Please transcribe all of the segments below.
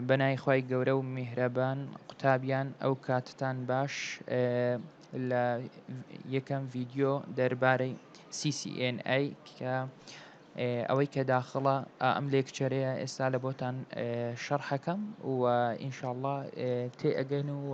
بەنای خوای گەورە و میهرەبان قوتابیان ئەو کاتتان باش لە یەکەم ڤیدیۆ دەربارەی CCNA کە ئەوەی کە داخڵە ئەم لێکچەرەیە ئێستا لە بۆتان شەڕحەکەم و ئینشاءله تێ ئەگەن و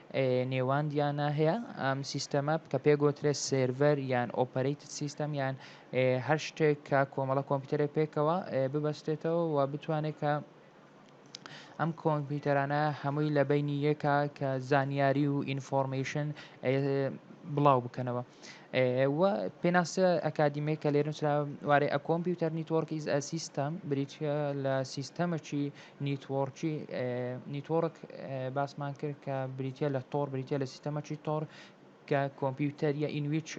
نێواندیانا هەیە، ئەم سیستەمە کە پێگوترێت سێرڤەر یان ئۆپەرەیتد سیستەم یان هەر شتێک کە کۆمەڵە کۆمپیوتەرێک پێکەوە ببەستێتەوە و بتوانێت کە ئەم کۆمپیوتەرانە هەمووی لە بینی یەکە کە زانیاری و ئینفۆرمەیشن بڵاو بکەنەوە و پێناسە ئەکادیمی کە لێرنووسراوارێ ئە کۆمپیوتەر نیتۆرکیز ئە سیستەم بریتە لە سیستەمەکی نیتوۆرکی، Network، باسمان کرد کە بریتیە لە تۆڕ، بریتیە لە سیستەمەکی تۆڕ کە کۆمپیوتەریە in which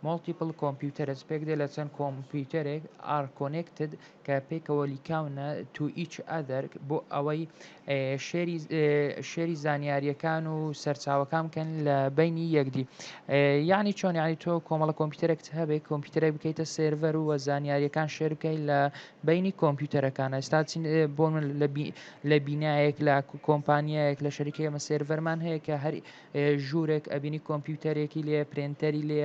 multiple computers پێک دێ لە چەند کۆمپیوتەرێک are connected کە پێکەوە لیکاونە to each other بۆ ئەوەی شێری زانیاریەکان و سەرچاوەکان بکەن لە بینی یەکدی یعنی چۆن یعنی تۆ کۆمەڵە کۆمپیوتەرێکت هەبێ کۆمپیوتەرێک بکەیتە سێرڤەر و زانیاریەکان شێر بکەیت لە بینی کۆمپیوتەرەکانە ئێستا چین بۆ من لە بینایەک لە کۆمپانیایەک لە شەریکی ئەمە سێرڤەرمان هەیە کە هەر ژوورێک ئەبینی کۆمپیوتەرێکی لێ پرێنتەری لێ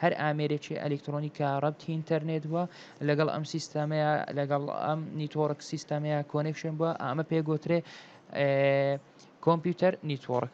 هەر ئامێرێکی ئەلکترۆنی کە ڕەبتی ئینتەرنێت بووە لەگەڵ ئەم سیستەمەیە لەگەڵ ئەم نیتۆڕک سیستەمەیە کۆنێکشن بووە ئەمە پێگوترێ کۆمپیوتەر نیتۆڕک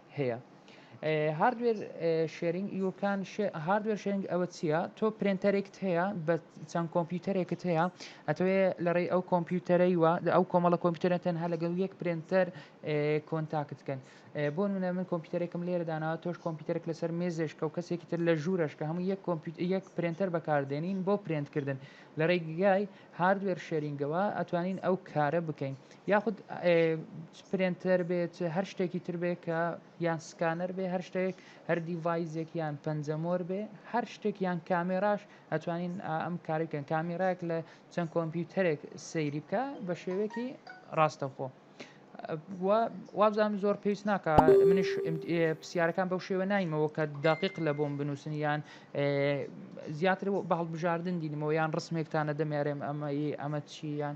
هەیە هاردوێر شێرینگ یو کان هاردوێر شێرینگ ئەوە چییە تۆ پرێنتەرێکت هەیە بە چەند کۆمپیوتەرێکت هەیە ئەتەوێ لەڕێی ئەو کۆمپیوتەرەی وە ئەو کۆمەڵە کۆمپیوتەرە تەنها لەگەڵ یەک پرێنتەر کۆنتاکت کەن بۆ نمونە من کۆمپیوتەرێکم لێرە داناوە تۆش کۆمپیوتەرێک لەسەر مێزێشکە و کەسێکی تر لە ژوورەش کە هەموو یەک کۆمپیوتەر یەک پرێنتەر بەکاردێنین بۆ پرێنتکردن لە ڕێگای هاردوێر شێرینگەوە ئەتوانین ئەو کارە بکەین یاخود پرێنتەر بێت هەر شتێکی تر بێ کە یان سکانەر بێ هەر شتێک هەر دیڤایزێک یان پەنجەمۆر بێ هەر شتێک یان کامێراش ئەتوانین ئەم کارێکن کامیراک لە چەند کۆمپیوتەرێک سەیری بکە بە شێوەیەکی ڕاستەخۆ. وابزانم زۆر پێویست ناکە منش پرسیارەکان بەو شێوە نایمەوە کە داقیق لە بۆم بنووسن یان زیاتر بە هەڵبژاردن دینمەوە یان ڕسمێکتانە دەمێرێم ئەمە ئەمە چیان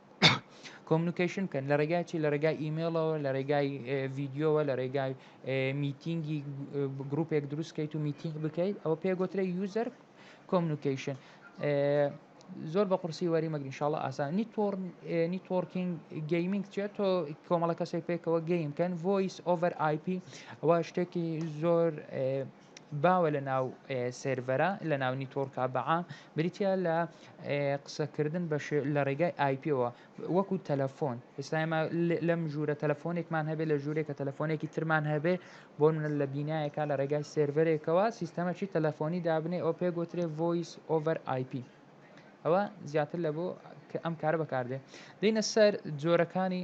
کۆمنکیشن بکەن لە ڕێگای چی لە ڕێگای ئیمێڵەوە لە ڕێگای ڤیددیوەوە لە ڕێگای میتینگی گرروپێک دروستکەیت و میتینگ بکەیت ئەوە پێگوترە یوزەر کۆمنکیشن زۆر بە قورسی وەری مەگرین شڵە ئاسان نیتۆر نیتۆرکینگ گەیمنگ چێت تۆ کۆمەڵە کەسێک پێکەوە گەیمکەن ڤۆیس ئۆڤەر آیP ئەوە شتێکی زۆر باوە لە ناو سێرڤەرە لە ناو نیتۆرکە بەعام بریتە لە قسەکردن بە لە ڕێگای ئایپەوە وەکو تەلەفۆن ئێستاێمە لەم ژوورە تەلەفۆنێکمان هەبێت لە ژوورێکە تەلەفۆنێکی ترمان هەبێ بۆ منە لە بینایەکە لە ڕێگای سێرڤەرێکەوە سیستەمەکی تەلەفۆنی دابنێ ئەو پێ گوترێ ڤۆیس ئۆڤەر آیP ئەوە زیاتر لە بۆ کە ئەم کارە بەکاردێ دینە سەر جۆرەکانی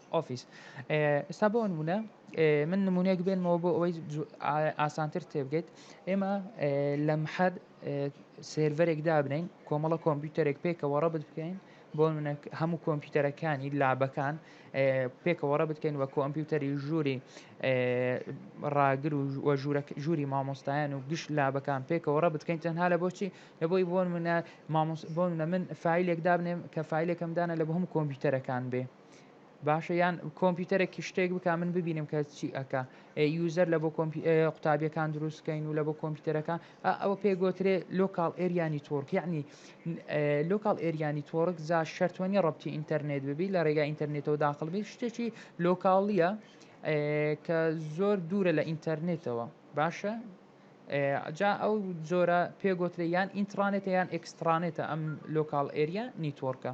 ئۆفیس ئستا بۆ نمونە من نمونەیەک بێنمەوە بۆ ئەوەی ئاسانتر تێبگەیت ئێمە لە محەد سێرڤەرێک دابنین کۆمەڵە کۆمپیوتەرێک پێکەوە ڕەبت بکەین بۆ منە هەموو کۆمپیوتەرەکانی لابەکان پێکەوە ڕە بکەین وە کۆمپیوتەری ژووری ڕاگر و ژووری مامۆستایان و گشت لابەکان پێکەوە ڕە بکەین تەنها لە بۆچی لە بۆی بۆن منە مامۆس بۆن لە من فیلێک دابنێم کە فیلێکم دانە لە بە هەم کۆمپیوتەرەکان بێ باشە یان کۆمپیوتەرێکی شتێک بک من ببینم کە چی ئەکا یوزەر لە بۆ قوتابیەکان دروستکەین و لە بۆ کۆمپیوتەرەکان ئەوە پێگوترێ لۆکال ئێریانی تۆرک یعنی لۆکال ئێریانی تۆرک جا شەرتوەنی ڕبتی ئینتەرنێت ببی لە ڕێگا ئینتەرنێتەوە داخڵبی شتێکی لۆکاڵیە کە زۆر دوورە لە ئینتەرنێتەوە باشە جا ئەو زۆرە پێگوترێ یان ئینترانێتە یان ئەکسترانێتە ئەم لۆکال ئێریا نیتۆرکە.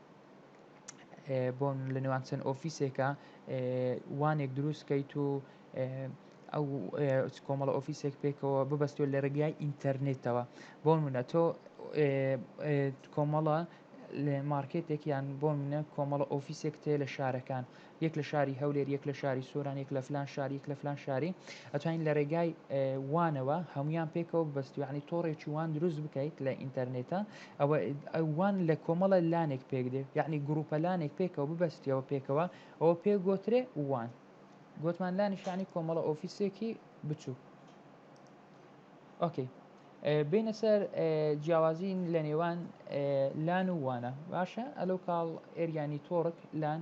بۆن لە نێوان چەند ئۆفیسێکە وانێک دروست کەیت و ئەو کۆمەڵە ئۆفیسێک پێکەوە ببەستێت لە ڕێگای ئینتەرنێتەوە بۆن منە تۆ کۆمەڵە لە مارکێتێکیان بۆن منە کۆمەڵە ئۆفیسێک تێ لە شارەکان یەک لە شاری هەولێر یەک لە شاری سۆران یەک لە فلان شار یەک لە فلان شاری ئەتوانین لە ڕێگای وانەوە هەمویان پێکەوە بەستوانی تۆڕێکی وان دروست بکەیت لە ئینتەرنێتە ئەوە ئەوان لە کۆمەڵە لانێک پێک دێ یعنی گروپە لانێک پێکەوە ببەستیەوە پێکەوە ئەوە پێ گۆترێ وان گوتمان لانیشانی کۆمەڵە ئۆفیسێکی بچوو ئۆکەی بینە سەر جیاوازین لە نێوان لان و وانە باشە ئەلو کاڵ ئێریانی تۆڕک لان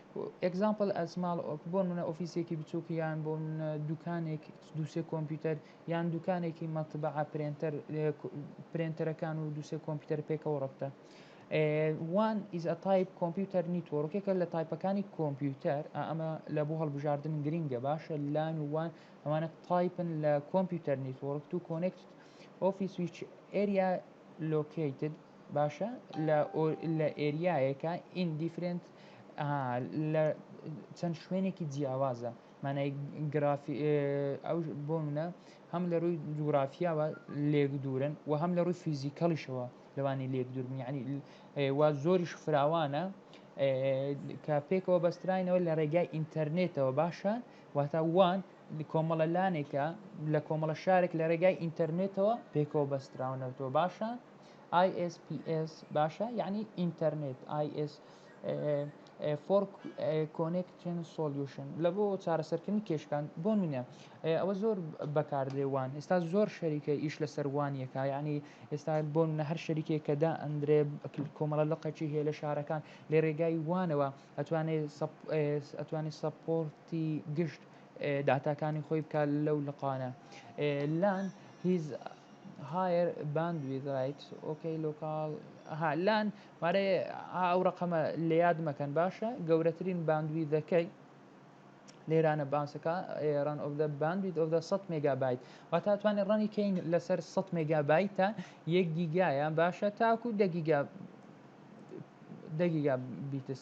Example A small op بۆ نموونە ئۆفیسێکی بچووک یان بۆ نموونە دووکانێک دوو سێ کۆمپیوتەر یان دووکانێکی مەتبەعە پرێنتەر پرێنتەرەکان و دوو سێ کۆمپیوتەر پێکەوە ڕەبتە وان ئیز ئە تایپ کۆمپیوتەر نیتۆڕکێکە لە تایپەکانی کۆمپیوتەر ئەمە لە بۆ هەڵبژاردن گرنگە باشە لان و وان ئەوانە تایپن لە کۆمپیوتەر نیتۆڕک تو کۆنێکت ئۆفیس ویچ ئێریا لۆکیتد باشە لە لە ئێریایەکە ئین دیفرێنت ئەها لە چەند شوێنێکی جیاوازە مانای گرافی ئەو بۆ منە هەم لە ڕووی جوگرافیاوە لێک دوورن و هەم لە ڕووی فیزیکەڵیشەوە لەوانی لێک دوورن یعنی وا زۆریش فراوانە کە پێکەوە بەستراینەوە لە ڕێگای ئینتەرنێتەوە باشە واتە وان کۆمەڵە لانێکە لە کۆمەڵە شارێک لە ڕێگای ئینتەرنێتەوە پێکەوە بەستراونەوتەوە باشە ISPS باشە یعنی ئینتەرنێت IS فۆر کۆنێکشن سۆلیوشن لە بۆ چارەسەرکردنی کێشکان بۆ منە ئەوە زۆر بەکاردێ وان ئێستا زۆر شەریکە ئیش لە سەروانیەکە ینی ئێستا بۆ منە هەر شەریکێک کە دا ئەندرێ کۆمەڵە لە قەچی هەیە لە شارەکان لێ ڕێگای وانەوە ئەتوانێت ئەتوانی سەپۆرتی گشت داتاکانی خۆی بکات لەو لقانە لان هیز هایر باند ویز رایت ئۆکەی لۆکاڵ ها لان مارێ ئەو ڕقەمە لە یاد مەکەن باشە گەورەترین باندویدەکەی لێرانە باسەکە ڕان ئۆف دە باندویت ئۆف دە 100 مگابایت و تا توانێت ڕەنی کەین لەسەر 100 مگابایتە یەک گیگایە باشە تاکو دەگیگا دەگیگا بیتس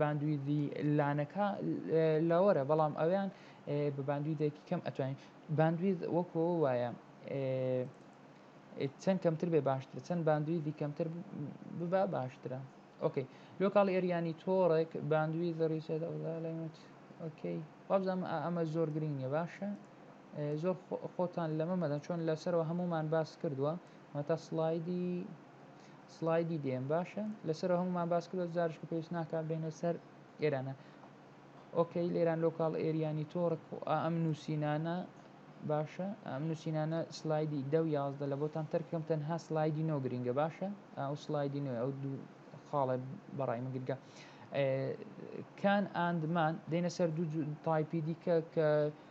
باندویدی لانەکە لەوەرە بەڵام ئەویان بە باندویدێکی کەم ئەتوانین باندوید وەکۆ وایە چەند کەمتر بێ باشتر چەند باندویدی کەمتر ببا باشترە ئۆکەی لۆکاڵ ئێریانی تۆڕێک باندوی زەڕیسە دەڵێت ئۆکەی وابزانم ئەمە زۆر گرنگ نیە باشە زۆر خۆتان لەمە مەدەن چۆن لەسەرەوە هەمومان باس کردووە مەتا سلایدی سڵایدی دێم باشە لەسەر هەمومان باس کرد زارش کە پێویست ناکە بینە سەر ئێرانە ئۆکەی لێران لۆکاڵ ئێریانی تۆڕک و ئەم نووسینانە باشە ئەم نووسینانە سلایدی دە و یازدە لە بۆتان تەرکەم تەنها سلایدی نۆ گرنگە باشە ئەو سلایدی نوێ ئەو دوو خاڵێ بەڕای من گرگە کان ئاندمان دێنە سەر دوو تایپی دیکە کە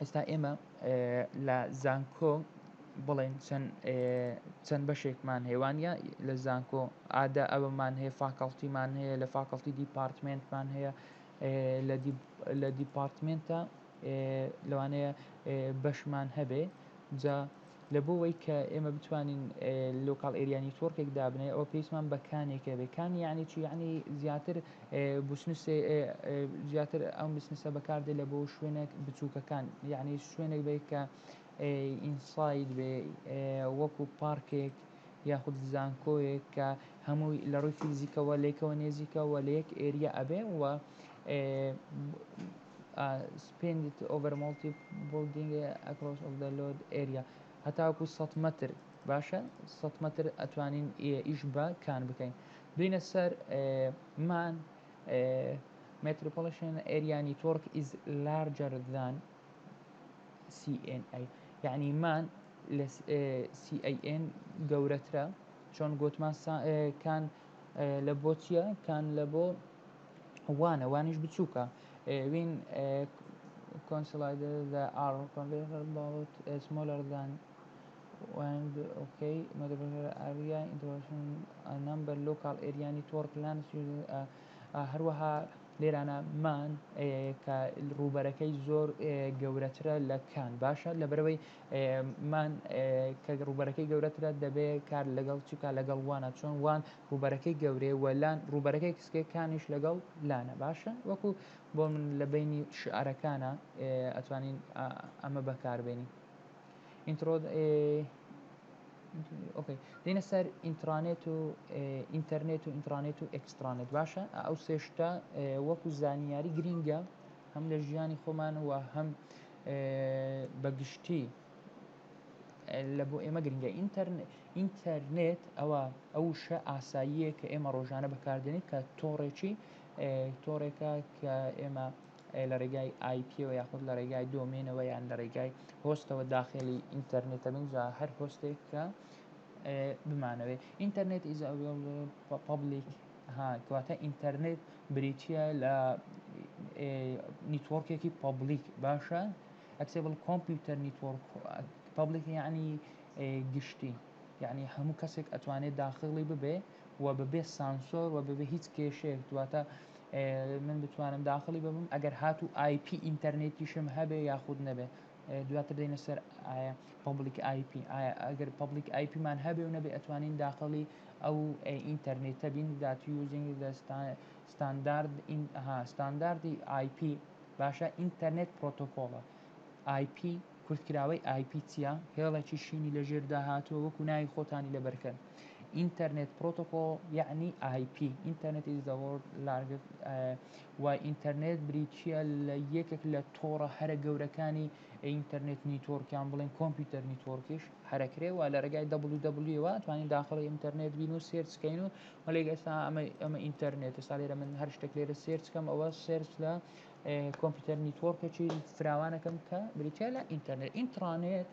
ئێستا ئێمە لە زانکۆ بڵێن چەند بەشێکمان هێوانە لە زانکۆ ئادا ئەوەمان هەیە فاکەڵتیمان هەیە لە فاکەڵتی دیپارتمنتمان هەیە لە دیپارتمنتە لەوانەیە بەشمان هەبێ جا لە بۆ وەی کە ئێمە بتوانین لۆکاڵ ئێریا نیتۆرکێک دابنێ ئەوە پێویستمان بە کانێکە بێ کان یعنی چی یعنی زیاتر بسنسێ زیاتر ئەم بسنسە بەکاردێ لە بۆ شوێنێک بچووکەکان یعنی شوێنێک بێ کە ئینساید بێ وەکو پارکێک یاخود زانکۆیەک کە هەمووی لە ڕووی فیزیکەوە لێکەوە نێزیکەوە لە یەک ئێریا ئەبێ و سپێندت ئۆڤەر مۆڵتی بڵدینگ ئەکرۆس ئۆف دە لۆد ئێریا هەتاوەکو سەد مەتر باشە سەد مەتر ئەتوانین ئیش بە کان بکەین بینە سەر مان متروپۆلیشن ئێریا نیتۆرک ئیز لارجەر دان CNI یعنی مان لە CIN گەورەترە چۆن گوتمان کان لە بۆ چییە کان لە بۆ وانە وانیش بچووکە وین کۆنسلایدە دە ئاڕ کۆنڤێرتەر باڵت سمۆلەر دان وەند ئۆکەی مەدەبەر ئاریا ئینترۆشن نمبەر لۆکال ئێریانی تۆڕ پلانس هەروەها لێرانە مان کە ڕووبەرەکەی زۆر گەورەترە لە کان باشە لە بەرەوەی مان کە ڕووبەرەکەی گەورەترە دەبێت کار لەگەڵ چکا لەگەڵ وانە چۆن وان ڕووبەرەکەی گەورەیە وە لان ڕووبەرەکەی کسکێ کانیش لەگەڵ لانە باشە وەکو بۆ من لە بینی شعرەکانە ئەتوانین ئەمە بەکاربێنی ئینترۆ ئۆکەی دێنە سەر ئینترانێت و ئینتەرنێت و ئینترانێت و ئەکسترانێت باشە ئەو سێشتا وەکو زانیاری گرینگە هەم لە ژیانی خۆمانەوە هەم بەگشتی لە بۆ ئێمە گرنگە ئینتەرنێت ئەوە ئەو شە ئاساییە کە ئێمە ڕۆژانە بەکاردێنین کە تۆڕێکی تۆڕێکە کە ئێمە لە ڕێگای آیپیەوە یاخود لە ڕێگای دۆمێنەوە یان لە ڕێگای هۆستەوە داخلی ئینتەرنێتە بنجا هەر هۆستێک کە بمانەوێت ئینتەرنێت ئیز پبلیک کەواتە ئینتەرنێت بریتە لە نیتۆرکێکی پبلیک باشە ئەکسێبڵ کۆمپیوتەر نیتۆرک پەبلیک یعنی گشتی یعنی هەموو کەسێک ئەتوانێت داخلی ببێ و بەبێ سانسۆر و بەبێ هیچ کێشێک دواتە من بتوانم داخلی ببم ئەگەر هات و آیP ئینتەرنێتیشم هەبێ یاخود نەبێ دواتر دێنە سەر ئایا پبلیک آیP ئەگەر پبلیک آیPمان هەبێ و نەبێ ئەتوانین داخلی ئەو ئینتەرنێتە بین داتی یوزینگ دەستان ستاندارد ئین ها ستانداردی ئای پی باشە ئینتەرنێت پرۆتۆکۆڵە ئای پی کورتکراوەی ئای پی چیە هێڵێکی شینی لە ژێردا هاتووە وەکو ناوی خۆتانی لە بەرکەن ئینتەرنێت پرۆتۆکۆڵ یعنی ئای پی ئینتەرنێت ئیز دە وۆرد لارگت و ئینتەرنێت بریتیە لە یەکێک لە تۆڕە هەرە گەورەکانی ئینتەرنێت نیتۆرکیان بڵێن کۆمپیوتەر نیتۆرکیش هەرەکرێ و لە ڕێگای دەبلی دەبلیەوە توانین داخڵی ئینتەرنێت بین و سێرچکەین و هەلێک ئێستا ئەمە ئەمە ئینتەرنێتە سا لێرە من هەر شتێک لێرە سێرچ کەم ئەوە سێرچ لە کۆمپیوتەر نیتۆرکێکی فراوانەکەم کە بریتە لە ئینتەرنێت ئینترانێت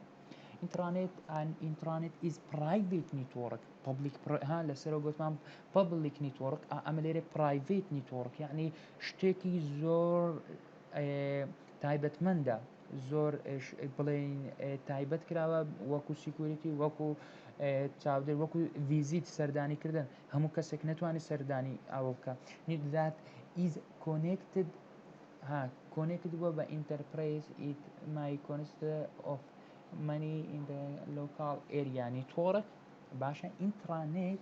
ئینترانێت ئەن ئینترانێت ئیز پرایڤیت نیتۆرک پبلیک ها لەسەرەوە گوتمان پبلیک نیتۆرک ئەمە لێرە پرایڤیت نیتۆرک یعنی شتێکی زۆر تایبەتمەندە زۆر بڵێین تایبەت کراوە وەکو سیکوریتی وەکو چاودێر وەکو ڤیزیت سەردانی کردن هەموو کەسێک نتوانانی سەردانی ئەوە بکە نیدات ئیز کۆنێکتد ها کۆنێکت بووە بە ئینتەرپرەیز ئیت مای کۆنست ئۆف منی لۆکاڵ ئێریانی تۆڕە باشە ئینترانێت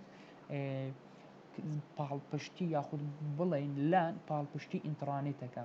پاڵپشتی یاخود بڵین لە پاڵپشتی ئینترانێتەکە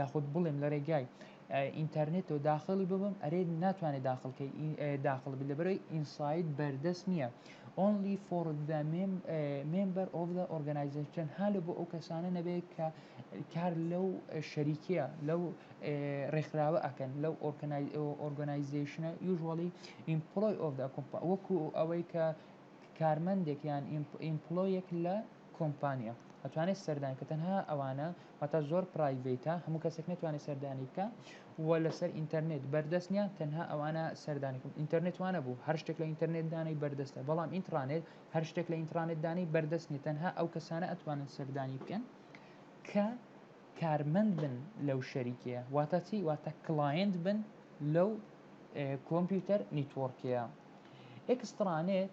یاخود بڵێم لەرێگای ئینتەرنێتەوە داخڵی ببم ئەرێ ناتوانێ داخڵ کەی داخڵ بی لەبەرەوەی ئینساید بەردەست نیە ئۆنلی فۆڕ دە مێمبەر ئۆف دە ئۆرگەنایزەیشن هالە بۆ ئەو کەسانە نەبێ کە کار لەو شەریکیە لەو ڕێکخراوە ئەکەن لەو ئۆرگەنایزەیشنە یوژوەڵی ئیمپڵۆی ئۆف دە کۆمپا وەکو ئەوەی کە کارمەندێک یان ئیمپڵۆیەک لە کۆمپانیا ئەتوانێت سەردانی کە تەنها ئەوانە واتا زۆر پرایڤەیتە هەموو کەسێک نەتوانێت سەردانی بکە و لەسەر ئینتەرنێت بەردەست نیە تەنها ئەوانە سەردانی کەم ئینتەرنێت وانە بوو هەر شتێک لە ئینتەرنێت دانەی بەردەستە بەڵام ئینترانێت هەر شتێک لە ئینترانێت دانەی بەردەست نیە تەنها ئەو کەسانە ئەتوانن سەردانی بکەن کە کارمەند بن لەو شەریکەیە واتە چی واتە کلاینت بن لەو کۆمپیوتەر نیتۆڕکەیە ئەکسترانێت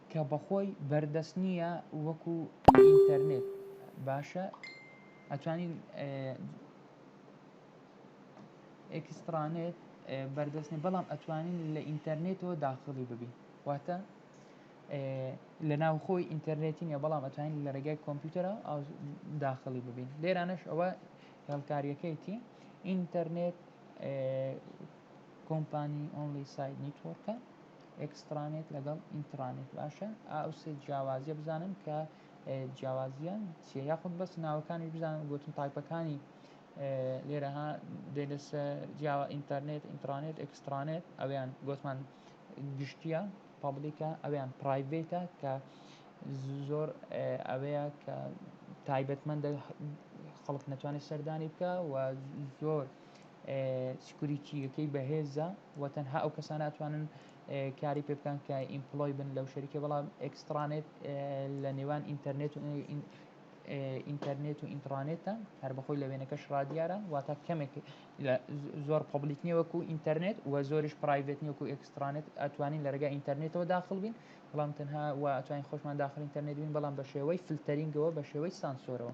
کە بەخۆی بەردەست نییە وەکو ئینتەرنێت باشە ئەتوانین ئێکسترانێت بەردەستنی بەڵام ئەتوانین لە ئینتەرنێتەوە داخڵی ببین واتە لە ناوخۆی ئینتەرنێتی نیە بەڵام ئەتوانین لە ڕێگای کۆمپیوتەرە داخڵی ببین لێرانەش ئەوە هێڵکاریەکەیتی ئینتەرنێت کۆمپانی ئۆنلی سایت نیتۆرکە ئێکسترانێت لەگەڵ ئینترانێت باشە ئەو سێ جیاوازیە بزانن کە جیاوازیان چیە یاخود بەس ناوەکانیش بزانن گوتن تایپەکانی لێرەها دەلس جیاوە ئینتەرنێت ئینترانێت ئێکسترانێت ئەویان گوتمان گشتیە پابلیکە ئەویان پرایڤێتە کە زۆر ئەوەیە کە تایبەتمەندە خەڵک نەتوانێت سەردانی بکە و زۆر سکوریتیەکەی بەهێزە وە تەنها ئەو کەسانە ئەتوانن کاری پێ بکەن کە ئیمپلۆی بن لەو شەریکە بەڵام ئەکسترانێت لە نێوان ئینتەرنێت و ئینتەرنێت و ئینترانێتە هەر بەخۆی لە وێنەکەش ڕادیارە واتە کەمێک زۆر پبلیک نیە وەکو ئینتەرنێت و زۆریش پرایڤێت نیوەکو ئەکسترانێت ئەتوانین لە ڕێگە ئینتەرنێتەوە داخل بین بەڵام تەنها و ئەتوانین خۆشمان داخل ئینتەرنێت بین بەڵام بە شێوەی فلتەرینگەوە بە شێوەی سانسۆرەوە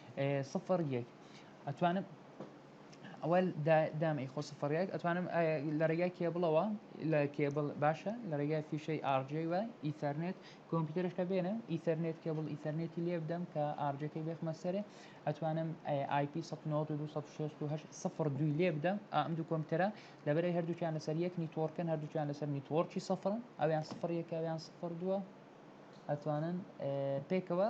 سفر یەک ئەتوانم ئەوە دام ئی خۆ سفر یەک ئەتوانم لە ڕێگای کێبڵەوە لە کێبڵ باشە لە ڕێگای فیشەی ئارجی وە ئیتەرنێت کۆمپیوتەرشکە بێنە ئیتەرنێت کێبڵ ئیتەرنێتی لێ بدەم کە ئارجەکەی بێخمە سەرێ ئەتوانم آیP 1970 دوی لێ بدەم ئەم دوو کۆمپیوتەرە لەبەرەی هەردووچیان لەسەر یەک نیتۆرکن هەردووچیان لەسەر نیتۆرکی سفرن ئەویان سفر یەکەویان سفر دووە ئەتوانن پێکەوە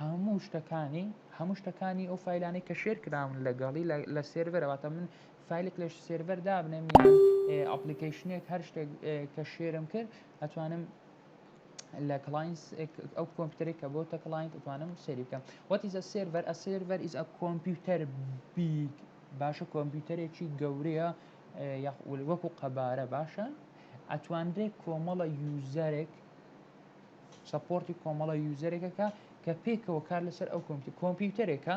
هەموو شتەکانی هەموو شتەکانی ئەو فیلانەی کە شێر کراون لەگەڵی لە سێرڤەرەوەتە من فیلێک لە سێرڤەر دابنێم یان ئەپلیکیشنێک هەر شتێک کە شێرم کرد ئەتوانم لە کلاینس ئەو کۆمپیوتەری کە بۆ تە کلاینت ئەتوانم سێری بکەم وەتیزە سێرڤەر ئە سێرڤەر ئیز ئە کۆمپیوتەر بیگ باشە کۆمپیوتەرێکی گەورەیە یاخ وەکو قەبارە باشە ئەتوانرێت کۆمەڵە یوزەرێک سەپۆرتی کۆمەڵە یوزەرێکەکە کە پێکەوە کار لەسەر ئەو کۆمپیوتەر کۆمپیوتەرێکە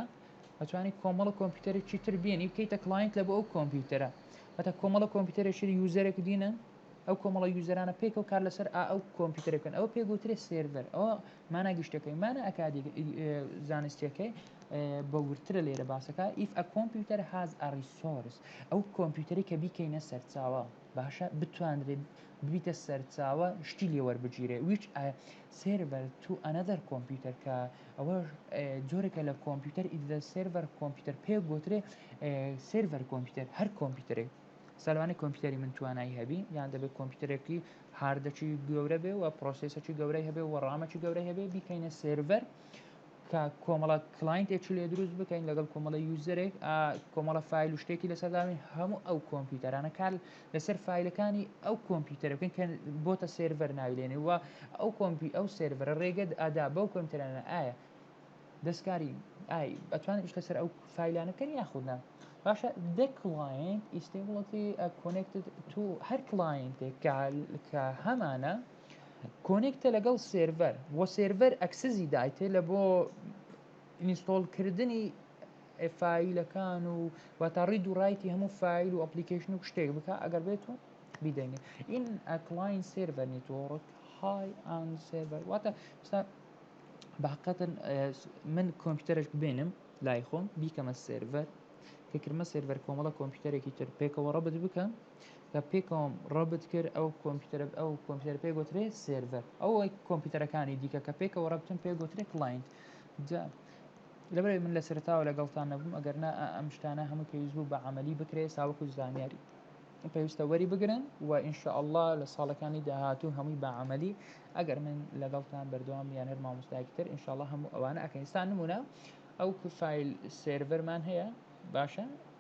ئەتوانی کۆمەڵە کۆمپیوتەرێکی تر بێنی بکەیتە کلاینت لە بۆ ئەو کۆمپیوتەرە هەتا کۆمەڵە کۆمپیوتەرێکی یوزەرێک دینن ئەو کۆمەڵە یوزەرانە پێکەوە کار لەسەر ئا ئەو کۆمپیوتەرەکەن ئەوە پێگوترێ سێرڤەر ئەوە مانا گشتەکەی مانە ئەکادی زانستیەکەی بە ورترە لێرە باسەکە ئیف ئە کۆمپیوتەر هاز ئەڕی سۆرس ئەو کۆمپیوتەری کە بیکەینە سەرچاوە باشە بتوانرێ ببیتە سەرچاوە شتی لێ وەربگیرێ ویچ سێرڤەر تو ئەنەدەر کۆمپیوتەر کە ئەوە جۆرێکە لە کۆمپیوتەر ئیدە سێرڤەر کۆمپیوتەر پێ گوترێ سێرڤەر کۆمپیوتەر هەر کۆمپیوتەرێک سەلوانی کۆمپیوتەری من توانایی هەبی یان دەبێت کۆمپیوتەرێکی هاردەکی گەورە بێ و پرۆسیسەکی گەورەی هەبێ و ڕامەکی گەورەی هەبێ بیکەینە سێرڤەر کە کۆمەڵە کلاینتێکی لێ دروست بکەین لەگەڵ کۆمەڵە یوزەرێک کۆمەڵە فیل و شتێکی لەسەرداوی هەموو ئەو کۆمپیوتەرانە کار لەسەر فیلەکانی ئەو کۆمپیوتەر بکەین کە بۆتە سێرڤەر ناوی لێنێ و ئەو کۆمپی ئەو سێرڤەرە ڕێگەت ئادا بەو کۆمپیوتەرانە ئایا دەستکاری ئای ئەتوانێت شتە سەر ئەو فیلانە بکەن یاخودنا باشە دە کلاینت ئیستی وڵەتی کۆنێکت تو هەر کلاینتێک کە هەمانە کۆنێکتە لەگەڵ سێرڤەر وە سێرڤەر ئەکسزی دایتێ لە بۆ ئینستۆڵ کردنی فیلەکان و واتە ڕید و ڕایتی هەموو فیل و ئەپلیکیشن و شتێک بکە ئەگەر بێت و بیدەینێ این ئەکلاین سێرڤەر نیتۆڕک های ئان سێرڤەر واتە باقەتن من کۆمپیوتەرش ببێنم لای خۆم بیکەمە سێرڤەر کە کرمە سێرڤەر کۆمەڵە کۆمپیوتەرێکی تر پێکەوە ڕەبت بکەم کە پێکەوەم ڕەبت کرد ئەو کۆمپیوتەرە ئەو کۆمپیوتەر پێ گوترێ سێرڤەر ئەو کۆمپیوتەرەکانی دیکە کە پێکەوە ڕەبتن پێ گوترێ کلاینت جا لەبەر من لە سەرتاوە لەگەڵتان نەبووم ئەگەر نا ئەم شتانە هەموو پێویست بوو بە عملی بکرێ ساوەکو زانیاری پێویستە وەری بگرن و ئینشاءله لە ساڵەکانی داهاتوو هەمووی بە عملی ئەگەر من لەگەڵتان بەردەوام یان هەر مامۆستایکی تر ئینشاءله هەموو ئەوانە ئەکەنستان نمونە ئەو کوفایل سێرڤەرمان هەیە باشە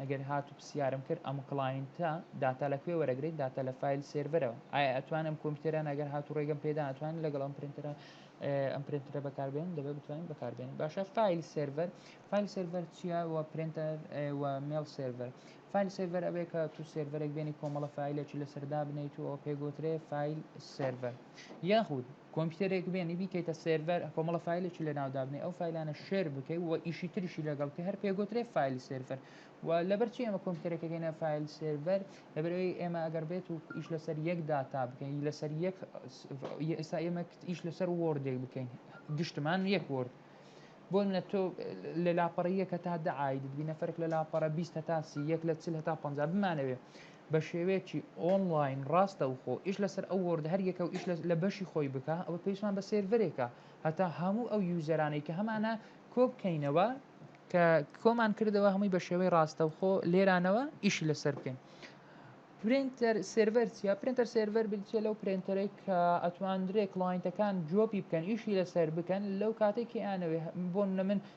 ئەگەر هاتو پسیارم کرد ئەم کڵاینتە داتا لە کوێ وەرەگرێت داتا لە فایل سێرڤەرەوە ئایا ئەتوان ئەم کۆمپیوتەرە ئەگەر هاتو ڕێگەم پێدا ئەتوانین لەگەڵ ئەم پرینتەرە ئەم پرینتەرە بەکار بێنین دەبێت بتوانین بەکار بێنین باشە فایل سێرڤەر فایل سێرڤەر چییە و پرینتەر و مێڵ سێرڤەر فایل سێرڤەر ئەبێ کە تو سێرڤەرێک بێنی کۆمەڵە فایلێکی لەسەردا بنیت و پێگوترێ فایل سێرڤەر یاخود کۆمپیوتەرێک بێنی بیکەیتە سێرڤەر کۆمەڵە فایلێکی لەناو دابنێ ئەو فایلانە شێر بکەی و ئیشی تریشی لەگەڵ بکەی هەر پێگوترێ فایل سێرڤەر و لەبەرچی ئێمە کۆمپیوتەرەکەگەینە فایل سێرڤەر لەبەرەوەی ئێمە ئەگەر بێت و ئیش لەسەر یەک داتا بکەین لەسەر یەک ئێستا ئێمە ئیش لەسەر وۆردێک بکەین گشتمان یەک وۆرد بۆ منە تۆ لە لاپەڕی یەکە تا دەعاید بینە فەرق لە لاپەڕە 20 هەتا سی یەک لە چل هەتا پ بمانەوێ بە شێوەیەکی ئۆنڵاین ڕاستەوخۆ ئیش لەسەر ئەو وۆرد هەر یەکە و ئیش لە بەشی خۆی بکا ئەوە پێویستمان بە سێرڤەرێکە هەتا هەموو ئەو یوزەرانەی کە هەمانە کۆبکەینەوە کە کۆمان کردەوە هەمووی بە شێوەی ڕاستەوخۆ لێرانەوە ئیشی لەسەر بکەین پرینتەر سێرڤەر چیە پرینتەر سێرڤەر بچێ لەو پرینتەرەی کە ئەتواندرێ کلاینتەکان جۆپی بکەن ئیشی لەسەر بکەن لەو کاتێکی ئانەوێ بۆن نە من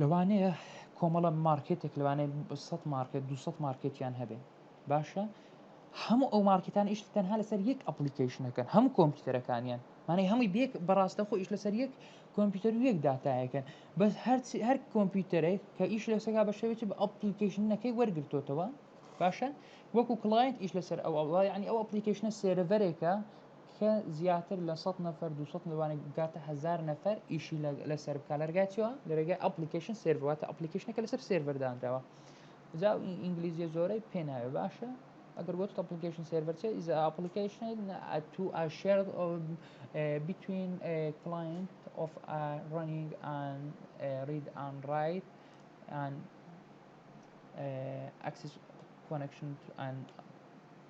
لەوانەیە کۆمەڵە مارکێتێک لەوانەیە سەد مارکێت دو مارکێتیان هەبێ باشە هەموو ئەو مارکتان ئیشت تەنها لەسەر یەک ئەپلیکیشنەکەن هەموو کۆمپیوتەرەکانیان مانای هەمووی بێک بەڕاستە خۆ ئیش لەسەر یەک کۆمپیوتەر و یەک دااتایەکەن بەس هەرچی هەر کۆمپیوتەرێک کە ئیش لەسەگا بە شێوێتی بە ئەپلیکیشنەکەی وەرگرتوتەوە باشە وەکو کلاینت ئیش لەسەر ئەو ئەوڵای عنی ئەو ئەپلیکیشنە سێرەرێکە کە زیاتر لە سەد نەفەر دوو سەد لەوانەیە بگاتە هەزار نەفەر ئیشی لەسەر بکات لە ڕێگای چیوە لە ڕێگای ئەپلیکیشن سێرڤەر واتە ئەپلیکیشنەکە لەسەر سێرڤەر دانراوە جا ئینگلیزیە زۆرەی پێ ناوێ باشە ئەگەر گوت ئەپلیکیشن سێرڤەر چێ ئیز ئەپلیکیشن تو ئا شێرد بیتوین کلاینت ئۆف ئا ڕەنینگ ئان ڕید ئان ڕایت ئان ئەکسس کۆنەکشن ئان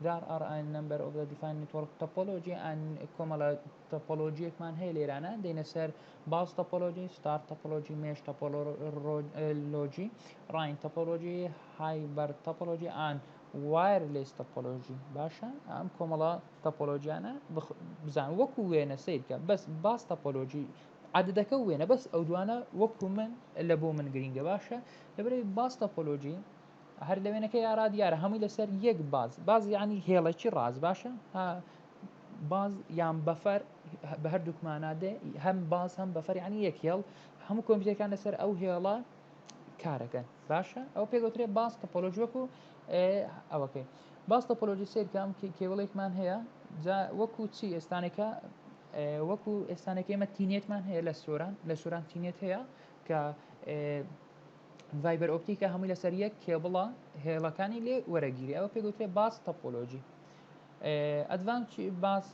There are a number of the defined network topology and کۆمەڵە تۆپۆلۆژیەکمان هەیە لێرانە دێنە سەر باز تۆپۆلۆژی ستار تۆپۆلۆژی مێش تۆپۆلۆژی ڕاین تۆپۆلۆژی هایبەر تۆپۆلۆژی ئان وایرلێس تۆپۆلۆژی باشە ئەم کۆمەڵە تۆپۆلۆژیانە بزان وەکو وێنە سیر بکە بەس باز تۆپۆلۆژی عادەکە وێنە بەس ئەو دوانە وەکو من لە بۆ من گرینگە باشە لەبەرەی باز تۆپۆلۆژی هەر لە وێنەکەی ئارا دیارە هەمووی لەسەر یەک باز باز یعنی هێڵێکی ڕاز باشە باز یان بەفەر بە هەردووکمانە دێ هەم باز هەم بەفەر ینی یەک هێڵ هەموو کۆمپیوتەکان لەسەر ئەو هێڵە کارەکەن باشە ئەو پێگوترێ باز تەپۆلۆژ وەکو ئەوەکەی باز تەپۆلۆژی سیرکەم کێوڵێکمان هەیە جا وەکو چی ئێستانێکە وەکو ئێستانەکە ئمە تینێتمان هەیە لە سۆران لە سۆران تینێت هەیە کە ڤایبەر ئۆپتیکە هەمووی لەسەر یەک کێبڵە هێڵەکانی لێ وەرەگیری ئەوە پێگوترێ باس تەپۆلۆژی ئەدڤانس باس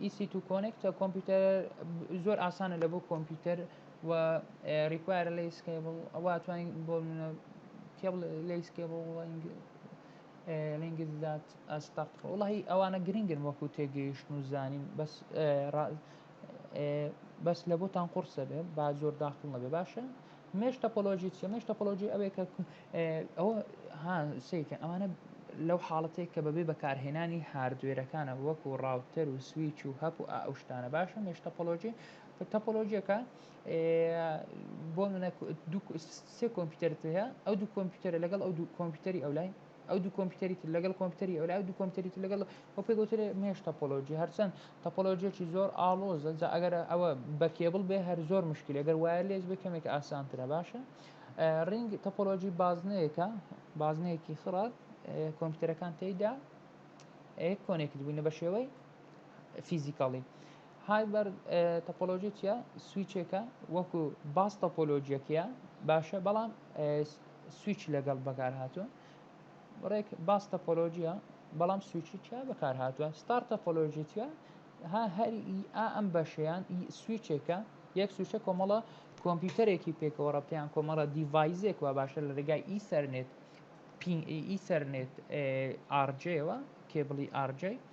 ئیسی تو کۆنێکتە کۆمپیوتەر زۆر ئاسانە لە بۆ کۆمپیوتەر و ریکوایرە لە سکیبڵ ئەوە توانین بۆ کێبڵ لە سکیبڵ لەنگزات ئەستەق وڵی ئەوانە گرنگن وەکو تێگەیشتن و زانین بەس بەس لە بۆتان قڕسە بێ با زۆر داخڵ نەبێ باشە مێش تەپۆلۆژی چیە مێش تەپۆلۆژی ئەوێ کە ئەوە ها سیکە ئەمانە لەو حاڵەتێک کە بەبێ بەکارهێنانی هاردوێرەکانە وەکو ڕاوتەر و سویچ و هەپ و ئەو شتانە باشە مێش تەپۆلۆژی تەپۆلۆژیەکە بۆ منە سێ کۆمپیوتەرت هەیە ئەو دوو کۆمپیوتەرە لەگەڵ ئەو دوو کۆمپیوتەری ئەو لای ئەو دوو کۆمپیوتەری تر لەگەڵ کۆمپیوتەری ئەولا، ئەو دوو کۆمپیوتەری تر لەگەڵ ئەو پێی گوترێ مێش تۆپۆلۆجی، هەرچەند تۆپۆلۆجییەکی زۆر ئاڵۆزە، جا ئەگەر ئەوە بە کێبڵ بێ هەر زۆر مشکیلە، گەر وایەرلێس بێ کەمێک ئاسانترە باشە. ڕینگ تۆپۆلۆجی بازنەیەکە، بازنەیەکی خڕە کۆمپیوتەرەکان تێیدا کۆنێکت بووینە بە شێوەی فیزیکاڵی. هایبەر تۆپۆلۆژی چیە؟ سویچێکە وەکو باس تۆپۆلۆژیەکەیە باشە بەڵام سویچ لەگەڵ بەکار هاتووە ڕێک باس تۆپۆلۆژیە بەڵام سویچی چیا بەکار هاتووە ستار تۆپۆلۆژی چیە ها هەر ئا ئەم بەشیان سویچێکە یەک سویچە کۆمەڵە کۆمپیوتەرێکی پێکەوە ڕەبتیان کۆمەڵە دیڤایزێک وە باشە لە ڕێگای ئی سەرنێت پین ئی سەرنێت ئارجەوە کێبڵی ئارجەی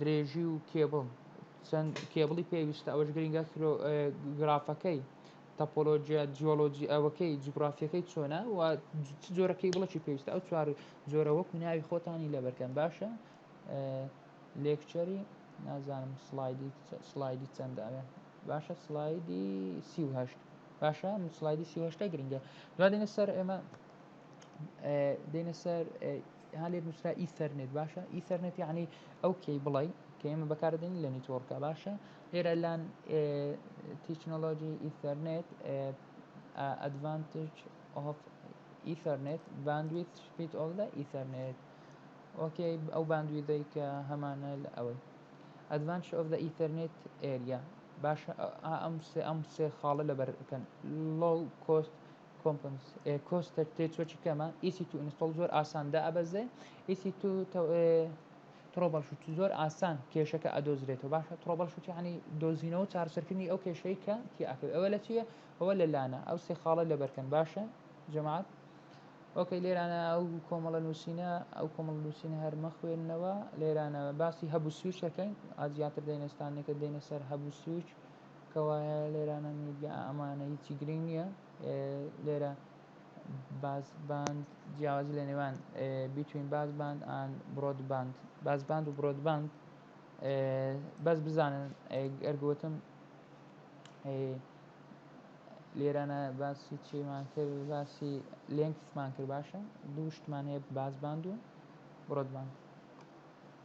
درێژی و کێبڵ چەند کێبڵی پێویستە ئەوەش گرنگە گرافەکەی تەپۆلۆجیا جیۆلۆجی ئەوەکەی جوگرافیەکەی چۆنە و چ جۆرە کێبڵەکی پێویستە ئەو چوار جۆرە وەکو ناوی خۆتانی لەبەرکەن باشە لێکچەری نازانم سلایدی سلایدی چەندە ئەوێ باشە سلایدی سیهشت باشە سلایدی سیهشتە گرنگە دوادێنە سەر ئێمە دێنە سەر ها لێت نووسرا ئیثەرنێت باشە ئیثەرنێت یعنی ئەو کەیبڵی کە ئێمە بەکاردێنین لە نیتۆرکە باشە لێرە لان تیکنۆلۆژی ئیثەرنێت ئەدڤانتج ئۆف ئیثەرنێت باندویت سپیت ئۆف لە ئیثەرنێت ئۆکێ ئەو باندویدەی کە هەمانە لە ئەوەی ئەدڤانش ئۆف لە ئیثەرنێت ئێریا باشە ئەم سێ ئەم سێ خاڵە لەبەرکەن لۆ کۆست کۆمپنس کۆستەر تێ چۆچی کەمە ئی سی تو ئینستۆڵ زۆر ئاسان دا ئەبەزێ ئی سی تو ترۆبەڵ شوت زۆر ئاسان کێشەکە ئەدۆزرێتەوە باشە ترۆبەڵ شوت یعنی دۆزینەوە چارەسەرکردنی ئەو کێشەی کە تی ئەکەوێت ئەوە لە چیە ئەوە لە لانە ئەو سێ خاڵە لەبەرکەن باشە جەماعەت ئۆکەی لێرانە ئەو کۆمەڵە نووسینە ئەو کۆمەڵ نووسینە هەرمە خوێندنەوە لێرانە باسی هەبوو سویچەکەین ئازیاتر دەینەستانێکە دێنە سەر هەبوو سویچ کەوایە لێرە نەمویت لە ئەمانە هیچی گرنگ نییە لێرە باس باند جیاوازی لە نێوان بیتوین باس باند ئان برۆد باند باس باند و برۆد باند بەس بزانن ئەرگوتم لێرانە باسی چیمان کرد باسی لێنکسمان کرد باشە دوو شتمان هەیە باس باند و برۆد باند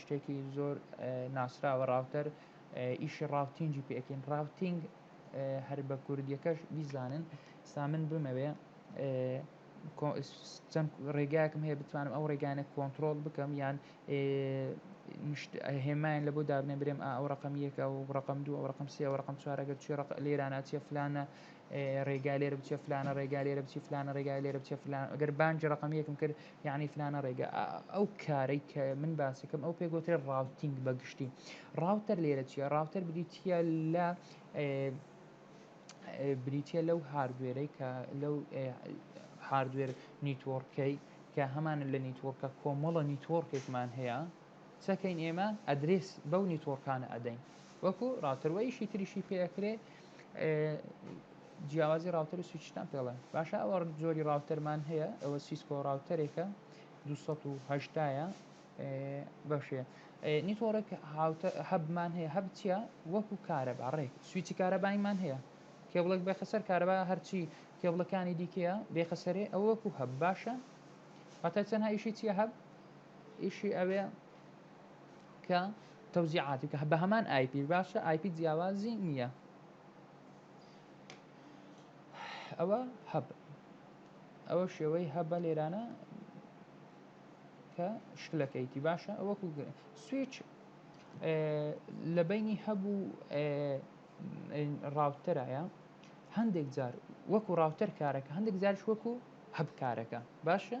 شتێکی زۆر ناسراوە ڕاوتەر ئیشی ڕاوتینگی پێکەین ڕاوتینگ هەر بە کوردیەکەش بیزانن سا من بمەوێ چەند ڕێگاکم هەیە بتوانم ئەو ڕێگانە کۆنتترۆل بکەم یان هێمایان لە بۆ دابنێ برێم ئەو ڕقم یەکە و ڕقم دوو ئەو ڕقم سێ ڕقم چوارەگەر چی ڕق لێرانە چێ فلانە ڕێگا لێرە بچێ فلانە ڕێگا لێرە بچی فلانە ڕێگا لێرە بچێ فلان ئەگەر بانجی ڕقم یەکم کرد یەعنی فلانە ڕێگە ئا ئەو کارەی کە من باسەکەم ئەو پێگوترێ ڕاوتینگ بە گشتی ڕاوتەر لێرە چیە ڕاوتەر بریتە لە بریتە لەو هاردوێرەی کە لەو هاردوێر نیتۆڕکەی کە هەمانە لە نیتۆڕکە کۆمەڵە نیتۆڕکێکمان هەیە چەکەین ئێمە ئەدرێس بەو نیتۆڕکانە ئەدەین وەکو ڕاتەروەیشی تریشی پێکرێ جیاوازی ڕاوتەر و سویچتان پێ ڵێ باشە ئەوە جۆری ڕاوتەرمان هەیە ئەوە سیسکۆ ڕاوتەرێکە 280 بەشێ نیتۆڕێک هاوتە هەبمان هەیە هەب چیە وەکو کارەبا ڕێک سویچی کارەبایمان هەیە کێبڵێک بێخە سەر کارەبا هەرچی کێبڵەکانی دیکەیە بێخە سەرێ ئەو وەکو هەب باشە هەتا چەند هایشی چیە هەب ئیشی ئەوێ کە تەوزیعاتی کە بە هەمان ئایپی باشە ئایپی جیاوازی نییە ئەوە هەب ئەوە شێوەی هەبە لێرانە کە شکلەکەیتی باشە ئەوە کوگرن سویچ لە بینی هەبوو ڕاوتەرایە هەندێک جار وەکو ڕاوتەر کارەکە هەندێک جارش وەکو هەبکارەکە باشە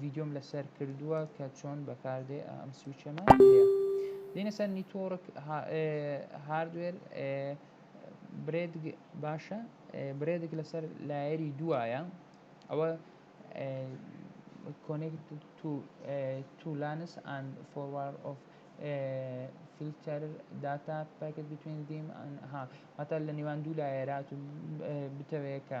ڤیدیۆم لەسەر کردووە کە چۆن بەکاردێ ئەم سوچەمە هەیە دینە سەر نیتۆڕک هاردوێر برێد باشە برێدێک لەسەر لایەری دوایە ئەوە کۆنێکت تو تو لانس ئەن فۆروار ئۆف فیلتەر داتا پاکت بتوێن دیم ها هەتا لە نێوان دوو لایەرات و بتەوەیەکە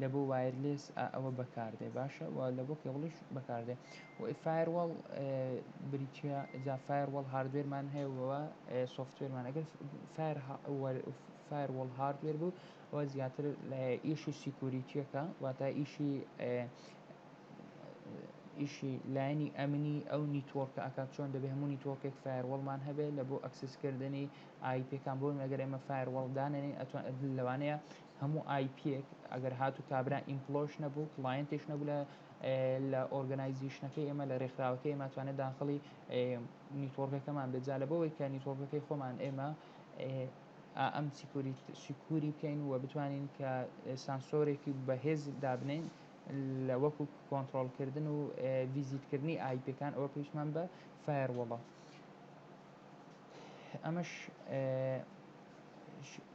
لە بۆ وایرلێس ئە ئەوە بە کار دێ باشە وە لە بۆ کێبڵیش بە کار دێ وە ی فایەر وەڵ ئێ بریتیە جا فایەر وەڵ هاردوێر مان هەیە وە وە ئێ سۆفتوێر مان ئەگەر فایەر هە وەر فایەر وەڵ هاردوێر بوو ئەوە زیاتر لە ئیشی سیکوریتیەکە واتە ئیشی ئیشی لایەنی ئەمنی ئەو نیتۆرکە ئەکات چۆن دەبێ هەموو نیتۆرکێک فایەر وەڵ مان هەبێ لە بۆ ئەکسس کردنی ئای پێکان بۆ ئەگەر ئێمە فایەر وەڵ دانێنین ئەتوان لەوانەیە هەموو ئای پییەک ئەگەر هاتوو کابرا ئیمپڵۆش نەبوو کڵاینتێش نەبوو لە لە ئۆرگەنایزیشنەکەی ئێمە لە رێکخراوەکەی ئێمە توانێت داخڵی نیتۆرگەکەمان بێت جا لە بەوەی کە نیتۆرگەکەی خۆمان ئێمە ئەم سیکوری بکەین و بتوانین کە سانسۆرێکی بەهێز دابنین لە وەکو کۆنتترۆلکردن و ڤیزیتکردنی ئایپەکان ئەوە پێویستمان بە فایەر وڵە ئەمەش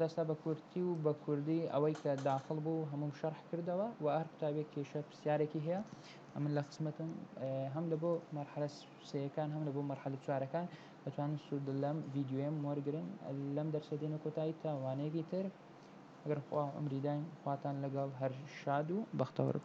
دەستە بە کورتی و بە کوردی ئەوەی کە داخڵ بوو هەمووم شەرح کردەوە و هەر قوتابیەک کێشە پرسیارێکی هەیە ئەمن لە خزمەتم هەم لە بۆ مەرحەلە سێەکان هەم لە بۆ مەرحەلە چوارەکان دەتوانن سوود لەم ڤیددیوێم وەرگن لەم دەرسە دێنە کۆتایی تا وانەیەکی تر ئەگەر خوا ئەمریداین خواتان لەگەڵ هەر شاد و بەختەوەرم